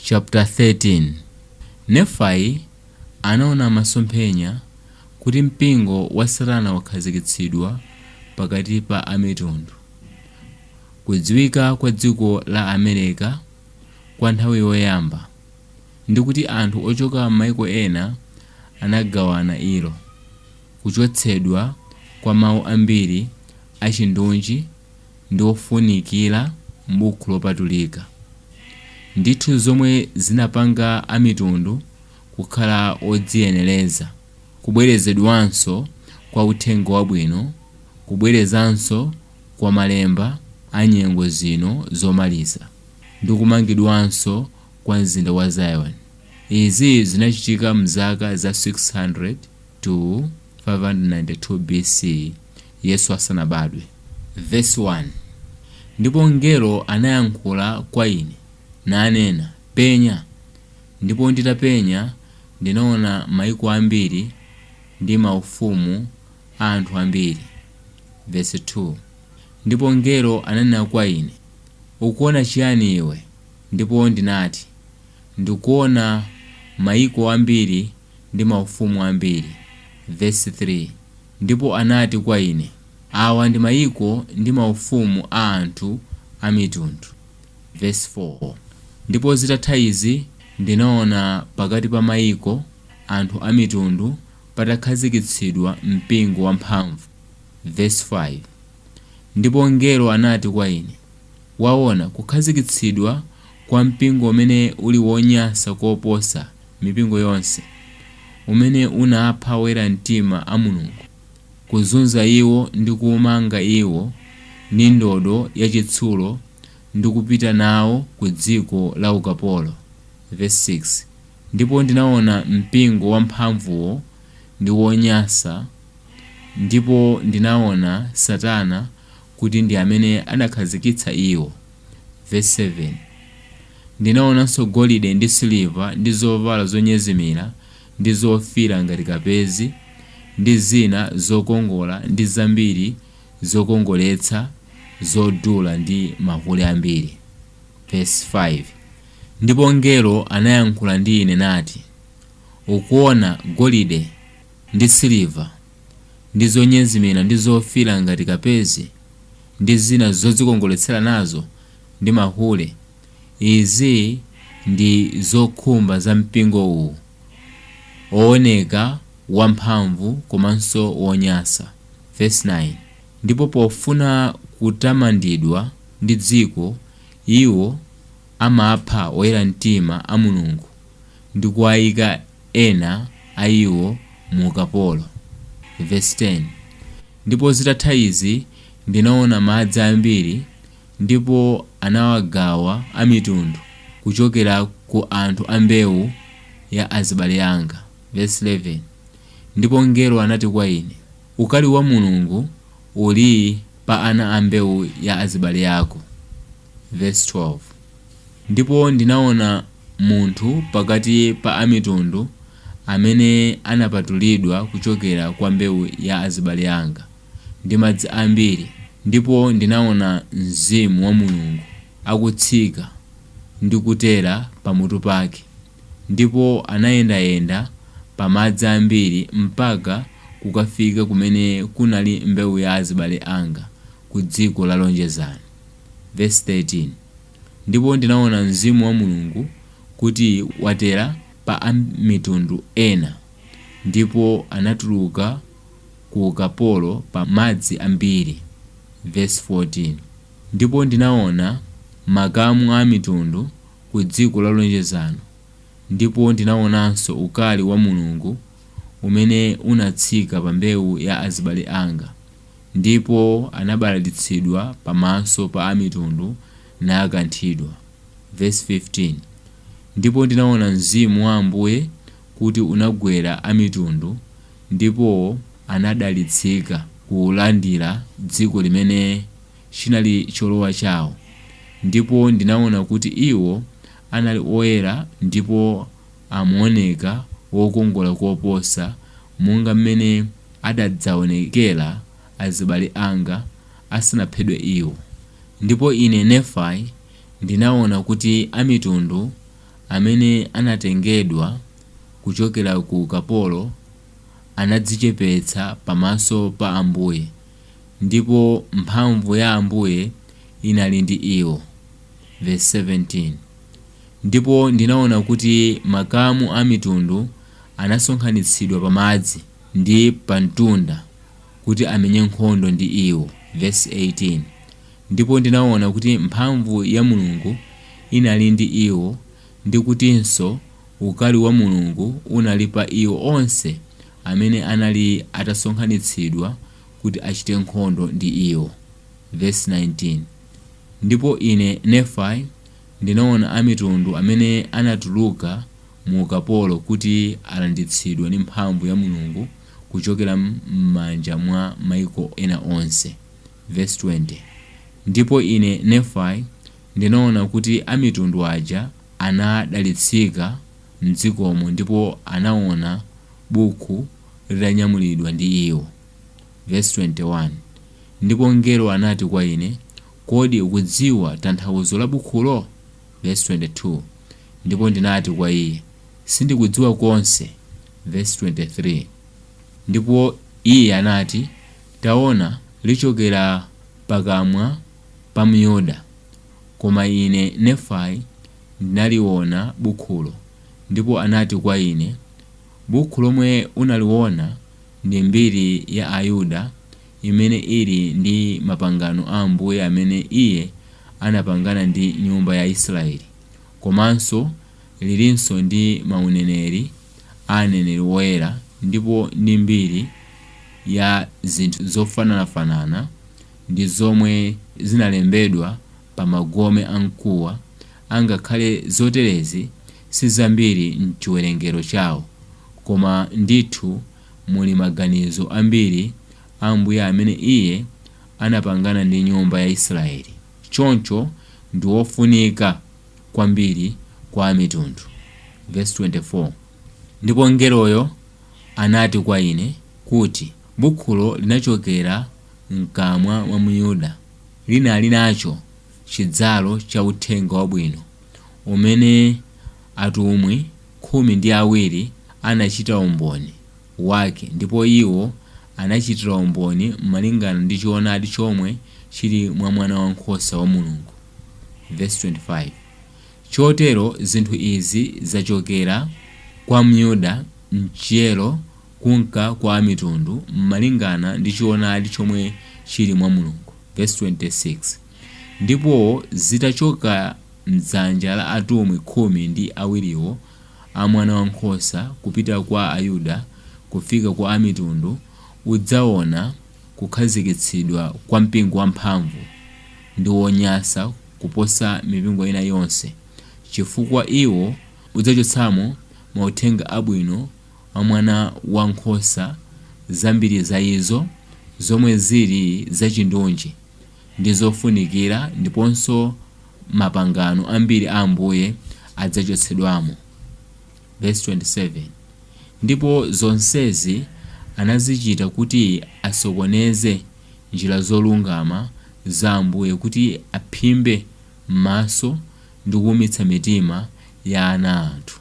Chapter 13 Nefai anaona masomphenya kuti mpingo wa Satana wakhazikitsidwa pakati pa Amitundu. Kudziwika kwa dziko la Amerika kwa nthawi yoyamba, ndi kuti anthu ochoka m'maiko ena anagawana ilo. Kuchotsedwa kwa mawu ambiri achindunji ndi ofunikira m'Bukhu Lopatulika. Ndithu zomwe zinapanga Amitundu kukhala odziyenereza, kubwerezedwanso kwa Uthenga Wabwino, kubwerezanso kwa Malemba a nyengo zino zomaliza, ndi kumangidwanso kwa Mzinda wa Zion. Izi zinachitika mzaka za 600 to 592 BC, Yesu asanabadwe. Verse 1, Ndipo mngelo anayankhula kwa ine, nanena, Penya, ndipo nditapenya ndinaona maiko ambiri ndi maufumu a anthu ambiri. Verse 2, Ndipo mngelo ananena kwa ine, Ukuona chiyani iwe? Ndipo ndinati, Ndikuona maiko ambiri. ndi maufumu ambiri. Verse 3, Ndipo anati kwa ine, Awa ndi maiko ndi maufumu a anthu amitundu. Verse 4, Ndipo zitatha izi ndinaona pakati pa maiko, anthu amitundu, patakhazikitsidwa mpingo wamphamvu. Verse 5, Ndipo mngelo anati kwa ine, Waona kukhazikitsidwa kwa mpingo umene uli wonyansa koposa, mipingo yonse, umene unapha oyera mtima a Mulungu, kuzunza iwo ndi kuumanga iwo ndi ndodo ya chitsulo ndi kupita nawo ku dziko la ukapolo, Verse 6 Ndipo ndinaona mpingo wamphamvuwo ndi wonyansa, ndipo ndinaona Satana kuti ndi amene anakhazikitsa iwo. Verse 7 Ndinaonanso golide ndi siliva ndi zovala zonyezimira ndi zofiira ngati kapezi ndi zina zokongola ndi zambiri zokongoletsa zodula ndi mahule ambiri. Verse 5 Ndipo mngelo anayankhula ndi ine nati, Ukuona golide ndi siliva, ndi zonyezimira ndi zofiira ngati kapezi, ndi zina zodzikongoletsera nazo, ndi mahule. Izi ndi zokhumba za mpingo uwu, owoneka wamphamvu komanso wonyansa. Vesi 9, Ndipo pofuna kutamandidwa ndi dziko, iwo amapha oyera mtima a Mulungu. ndi kuwaika ena a iwo mu ukapolo. Vesi 10, Ndipo zitatha izi ndinaona madzi ambiri, ndipo anawagawa amitundu kuchokera ku anthu a mbewu ya azibale anga. Vesi 11, Ndipo mngelo anati kwa ine, Ukali wa Mulungu uli pa ana a mbewu ya azibale ako. Vesi 12 Ndipo ndinaona munthu pakati pa amitundu amene anapatulidwa kuchokera kwa mbewu ya azibale anga, ndi madzi ambiri, ndipo ndinaona Mzimu wa Mulungu akutsika ndi kutera pamutu pake, ndipo anayendayenda pa madzi ambiri mpaka kukafika kumene kunali mbewu ya azibale anga, kudziko la lonjezano. Vesi 13, Ndipo ndinaona Mzimu wa Mulungu kuti watera pa amitundu ena, ndipo anatuluka ku ukapolo pa madzi ambiri, vesi 14, Ndipo ndinaona makamu a amitundu ku dziko la lonjezano, ndipo ndinaonanso ukali wa Mulungu, umene unatsika pa mbewu ya azibale anga, ndipo anabalalitsidwa pamaso pa amitundu, nakanthidwa. Vesi 15, Ndipo ndinaona Mzimu wa Ambuye kuti unagwera amitundu, ndipo anadalitsika kulandira dziko limene chinali cholowa chawo, ndipo ndinaona kuti iwo anali oyera ndipo. amaoneka wokongola koposa monga mmene adadzaonekera azibale anga asanaphedwe iwo. Ndipo ine, Nefai, ndinaona kuti Amitundu amene anatengedwa kuchokera ku ukapolo anadzichepetsa pamaso pa Ambuye, ndipo mphamvu ya Ambuye inali ndi iwo. Vesi 17. Ndipo ndinaona kuti makamu a mitundu anasonkhanitsidwa pamadzi ndi pamtunda kuti amenye nkhondo ndi iwo, vesi 18, Ndipo ndinaona kuti mphamvu ya Mulungu inali ndi iwo, ndi kutinso ukali wa Mulungu unali pa iwo onse amene anali atasonkhanitsidwa kuti achite nkhondo ndi iwo, vesi 19, Ndipo ine, Nefai, Ndinaona amitundu amene anatuluka mu ukapolo kuti alanditsidwa ndi mphamvu ya Mulungu kuchokera m'manja mwa maiko ena onse, vesi 20, Ndipo ine, Nefai, ndinaona kuti amitundu aja anadalitsika m'dzikomo ndipo anaona bukhu litanyamulidwa ndi iwo, vesi 21, Ndipo mngelo anati kwa ine, Kodi ukudziwa tanthauzo la bukhulo? Vesi 22, Ndipo ndinati kwa iye, Sindikudziwa konse, vesi 23, Ndipo iye anati, Taona, lichokera pakamwa pa Myuda, Koma ine, Nefai, ndinaliona bukhulo, ndipo anati kwa ine, Bukhu lomwe unaliona ndi mbiri ya Ayuda, imene ili ndi mapangano a Ambuye amene Iye anapangana ndi nyumba ya Israeli, komanso lilinso ndi mauneneri a aneneri woyera ndipo ndi mbiri ya zinthu zofananafanana ndi zomwe zinalembedwa pa magome a mkuwa, angakhale zoterezi si zambiri m'chiwerengero chawo, koma ndithu muli maganizo ambiri a Ambuye amene iye anapangana ndi nyumba ya Israeli, choncho ndi wofunika kwambiri kwa Amitundu. Vesi 24, Ndipo mngeloyo anati kwa ine, kuti, Bukhulo linachokera mkamwa mwa Myuda, linali nacho chidzalo cha uthenga wabwino umene atumwi khumi ndi awiri anachita umboni Wake, ndipo iwo anachitira umboni malingana ndi choonadi chomwe chili mwa Mwanawankhosa wa Mulungu. Vesi 25, Chotero zinthu izi zachokera kwa Myuda, mchiyero, kunka kwa Amitundu, malingana ndi choonadi chomwe chili mwa Mulungu. Vesi 26, Ndipo zitachoka. m'dzanja la atumwi khumi ndi awiriwo a Mwanawankhosa kupita kwa Ayuda kufika kwa Amitundu udzawona kukhazikitsidwa kwa mpingo wamphamvu ndi wonyasa kuposa mipingo ina yonse chifukwa iwo udzachotsamo Mauthenga Abwino a Mwana wa Nkhosa, zambiri za izo zomwe ziri zachindunji. ndi zofunikira ndiponso mapangano ambiri a Ambuye adzachotsedwamo. Vesi 27, Ndipo zonsezi anazichita kuti asokoneze njira zolungama za Ambuye, kuti aphimbe m'maso ndi kuumitsa mitima ya ana a anthu.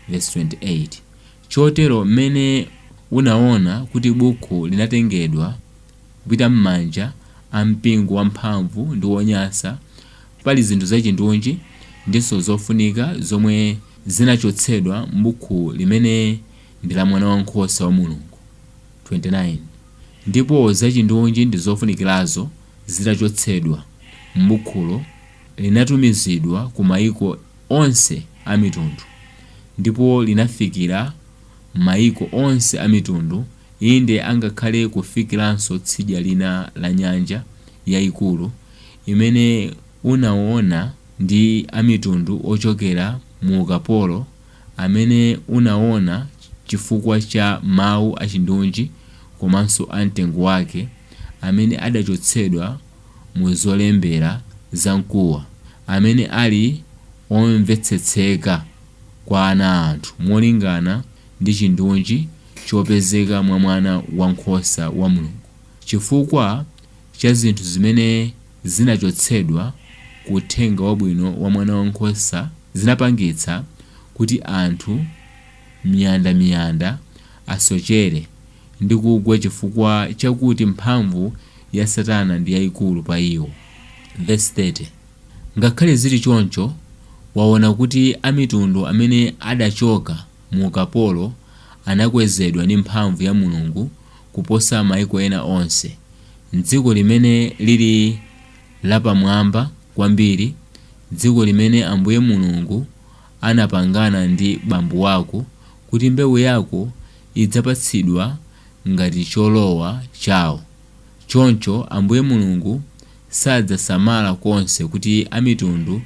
Vesi 28, Chotero m'mene unaona kuti bukhu linatengedwa. Kupita m'manja a mpingo wamphamvu ndi wonyasa, pali zinthu zachindunji ndinso zofunika zomwe zinachotsedwa m'bukhu limene ndi la Mwana Wankhosa wa Mulungu, 29 ndipo zachindunji ndi zofunikirazo zitachotsedwa m'bukhulo, linatumizidwa ku maiko onse amitundu, ndipo linafikira maiko onse amitundu. Inde, angakhale kufikiranso tsidya lina la nyanja yaikulu imene unawona ndi amitundu ochokera mu ukapolo amene unawona chifukwa cha mawu achindunji komanso a mtengo wake amene adachotsedwa mu zolembera za mkuwa amene ali omvetsetseka kwa ana a anthu molingana ndi chindunji chopezeka mwa Mwana wa nkhosa wa Mulungu, chifukwa cha zinthu zimene zinachotsedwa ku uthenga wabwino wa Mwana wa nkhosa zinapangitsa kuti anthu miyanda miyanda asochere ndi kugwa chifukwa chakuti mphamvu ya Satana ndi yaikulu pa iwo. Vesi 30, Ngakhale zili choncho, waona kuti amitundu amene adachoka. mu ukapolo anakwezedwa ndi mphamvu ya Mulungu kuposa maiko ena onse. M'dziko limene lili lapamwamba kwambiri, dziko limene Ambuye Mulungu anapangana ndi bambo wako kuti mbewu yako idzapatsidwa ngati cholowa chao. Choncho Ambuye Mulungu sadzasamala konse kuti amitundu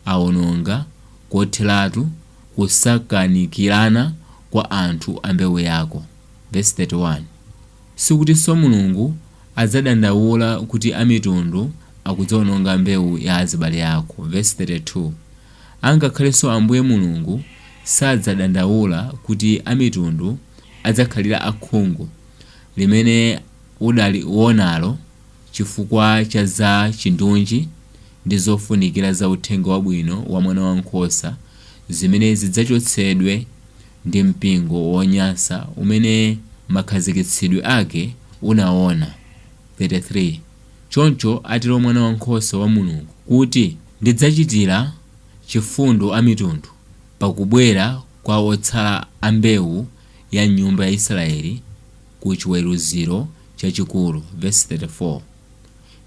aononga kotheratu kusakanikirana kwa anthu a mbewu yako. Vesi 31, Sikutinso Mulungu adzadandaula kuti amitundu akudzawononga mbewu ya azibale ako. Vesi 32, Angakhalenso Ambuye Mulungu sadzadandaula kuti amitundu adzakhalira akhungu, limene udalionalo chifukwa cha za chindunji ndi zofunikira za uthenga wabwino wa Mwana wa Nkhosa zimene zidzachotsedwe ndi mpingo wonyansa umene makhazikitsidwe ake unaona, 33 Choncho atero Mwana wa Nkhosa wa Mulungu, kuti ndidzachitira chifundo amitundu pa kubwera kwa otsala a mbewu ya m'nyumba ya Israeli ku chiweruziro chachikulu, vesi 34.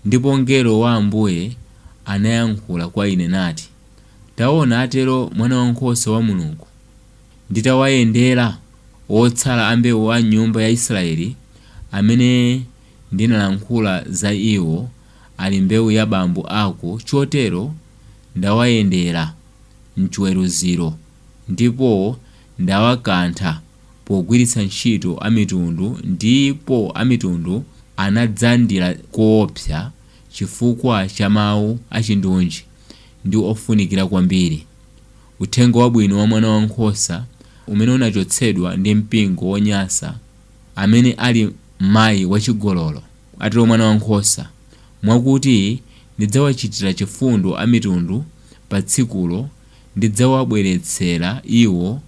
Ndipo mngelo wa Ambuye anayankhula kwa ine nati, Taona, atero Mwanawankhosa wa Mulungu, Nditawayendera otsala a mbewu a m'nyumba ya Israeli amene ndinalankhula za iwo, ali mbewu ya bambo ako, chotero ndawayendera m'chiweruziro ndipo ndawakantha pogwiritsa ntchito amitundu ndipo amitundu anadzandira koopsa chifukwa cha mawu achindunji ndi ofunikira kwambiri, Uthenga Wabwino wa Mwana wa nkhosa umene unachotsedwa ndi mpingo wonyansa amene ali mayi wachigololo, atero Mwana wa nkhosa, mwakuti ndidzawachitira chifundo amitundu pa tsikulo, ndidzawabweretsera iwo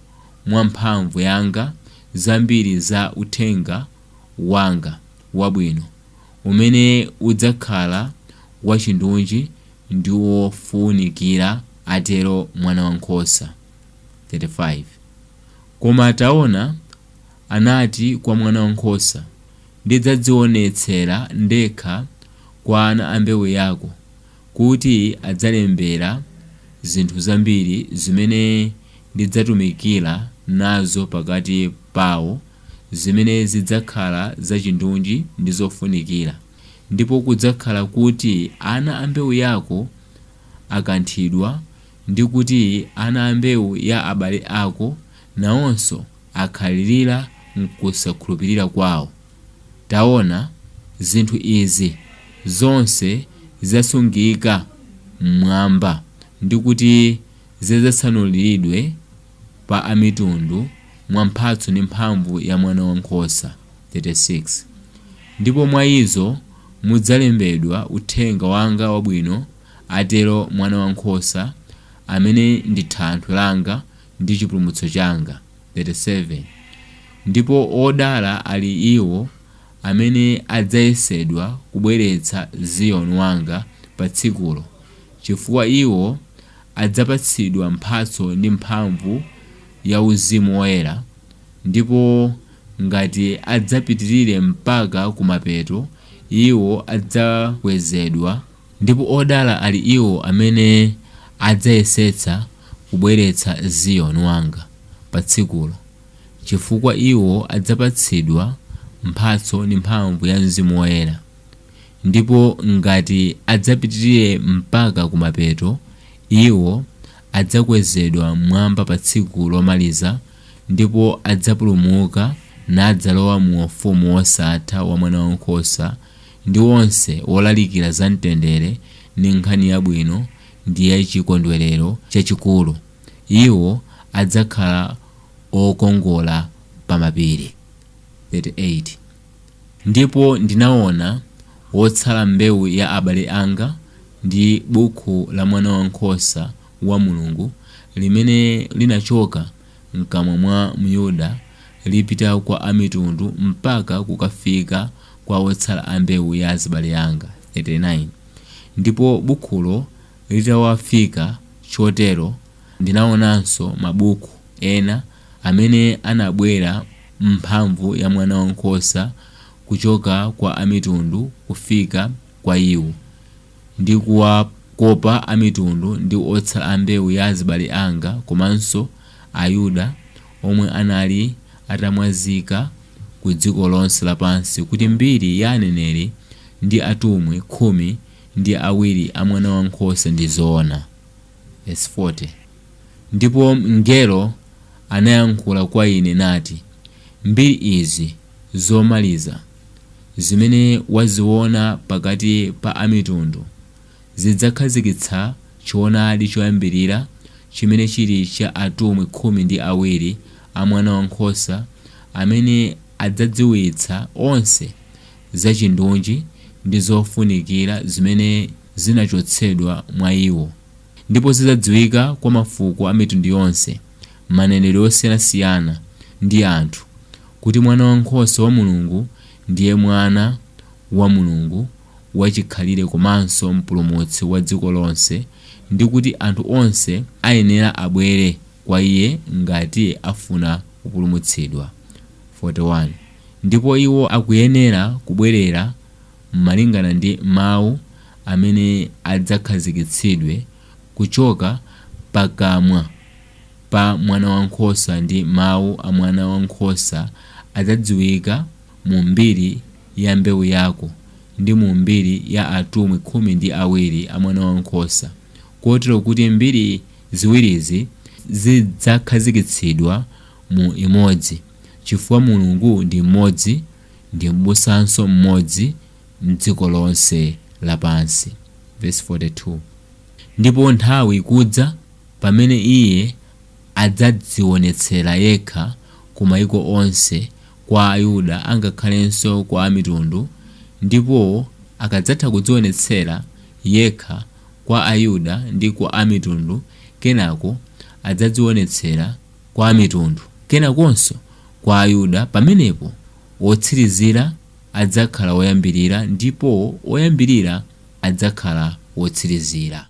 mwa mphamvu yanga zambiri za uthenga wanga wabwino umene udzakhala wachindunji ndi wofunikira, atero mwana wa nkhosa. 35, Koma taona, anati kwa mwana wa nkhosa, ndidzadzionetsera ndekha kwa ana a mbewu yako, kuti adzalembera zinthu zambiri zimene ndidzatumikira nazo pakati pawo, zimene zidzakhala zachindunji ndi zofunikira, ndipo kudzakhala kuti ana a mbewu yako akanthidwa, ndi kuti ana a mbewu ya abale ako nawonso akhalirira m'kusakhulupirira kwawo. Taona, zinthu izi zonse zidzasungika m'Mwamba, ndi kuti zidzatsanuliridwe pa amitundu mwa mphatso ndi mphamvu ya Mwana wa nkhosa, 36 ndipo mwa izo mudzalembedwa uthenga wanga wabwino, atero Mwana wa nkhosa, amene ndi thanthwe langa ndi chipulumutso changa, 37 ndipo odala ali iwo amene adzayesedwa kubweretsa Ziyoni wanga pa tsikulo, chifukwa iwo adzapatsidwa mphatso ndi mphamvu ya Mzimu Woyera, ndipo ngati adzapitirire mpaka kumapeto, iwo adzakwezedwa. Ndipo odala ali iwo amene adzayesetsa kubweretsa Ziyoni wanga pa tsikulo, chifukwa iwo adzapatsidwa mphatso ndi mphamvu ya Mzimu Woyera, ndipo ngati adzapitirire mpaka kumapeto, iwo adzakwezedwa mmwamba pa tsiku lomaliza ndipo adzapulumuka nadzalowa mu ufumu wosatha wa Mwanawankhosa, ndi onse wolalikira za mtendere ndi nkhani yabwino ndi ya chikondwerero chachikulu, iwo adzakhala okongola pa mapiri. 38 ndipo ndinaona wotsala mbewu ya abale anga, ndi bukhu la Mwana wa Nkhosa wa Mulungu, limene linachoka mkamwa mwa Myuda lipita kwa amitundu mpaka kukafika kwa otsala a mbewu ya azibale anga, 39 ndipo bukhulo litawafika chotero, ndinaonanso mabukhu ena amene anabwera m'mphamvu ya Mwanawankhosa kuchoka kwa amitundu kufika kwa iwo. ndi kuwakopa Amitundu ndi otsala a mbewu ya azibale anga komanso Ayuda omwe anali atamwazika ku dziko lonse lapansi kuti mbiri ya aneneri ndi atumwi khumi ndi awiri a Mwana wa Nkhosa ndi zoona. Vesi 40, Ndipo mngelo anayankhula kwa ine nati, Mbiri izi. zomaliza zimene waziona pakati pa amitundu zidzakhazikitsa choonadi choyambirira chimene chili cha atumwi khumi ndi awiri a mwana wa nkhosa amene adzadziwitsa onse za chindunji ndi zofunikira zimene zinachotsedwa mwa iwo ndipo zidzadziwika kwa mafuko a mitundu yonse. manenedwe osiyanasiyana ndi anthu kuti Mwana wa nkhosa wa Mulungu ndiye Mwana wa Mulungu wachikhalire komanso Mpulumutsi wa dziko lonse ndi kuti anthu onse ayenera abwere kwa Iye ngati afuna kupulumutsidwa, 41 ndipo iwo akuyenera kubwerera malingana ndi Mau amene adzakhazikitsidwe kuchoka pakamwa pa Mwanawankhosa ndi Mawu a Mwanawankhosa adzadziwika mu mbiri ya mbewu yako ndi mu mbiri ya atumwi khumi ndi awiri a Mwanawankhosa, kotero kuti mbiri ziwirizi zidzakhazikitsidwa mu imodzi, chifukwa Mulungu ndi mmodzi ndi M'busanso mmodzi, m'dziko lonse lapansi, vesi 42, ndipo nthawi ikudza pamene iye adzadziwonetsera yekha ku maiko onse, kwa Ayuda angakhalenso kwa Amitundu, ndipo akadzatha kudziwonetsera yekha kwa Ayuda ndi kwa Amitundu, kenako adzadziwonetsera kwa Amitundu, kenakonso kwa Ayuda, pamenepo wotsirizira. adzakhala woyambirira ndipo woyambirira adzakhala wotsirizira.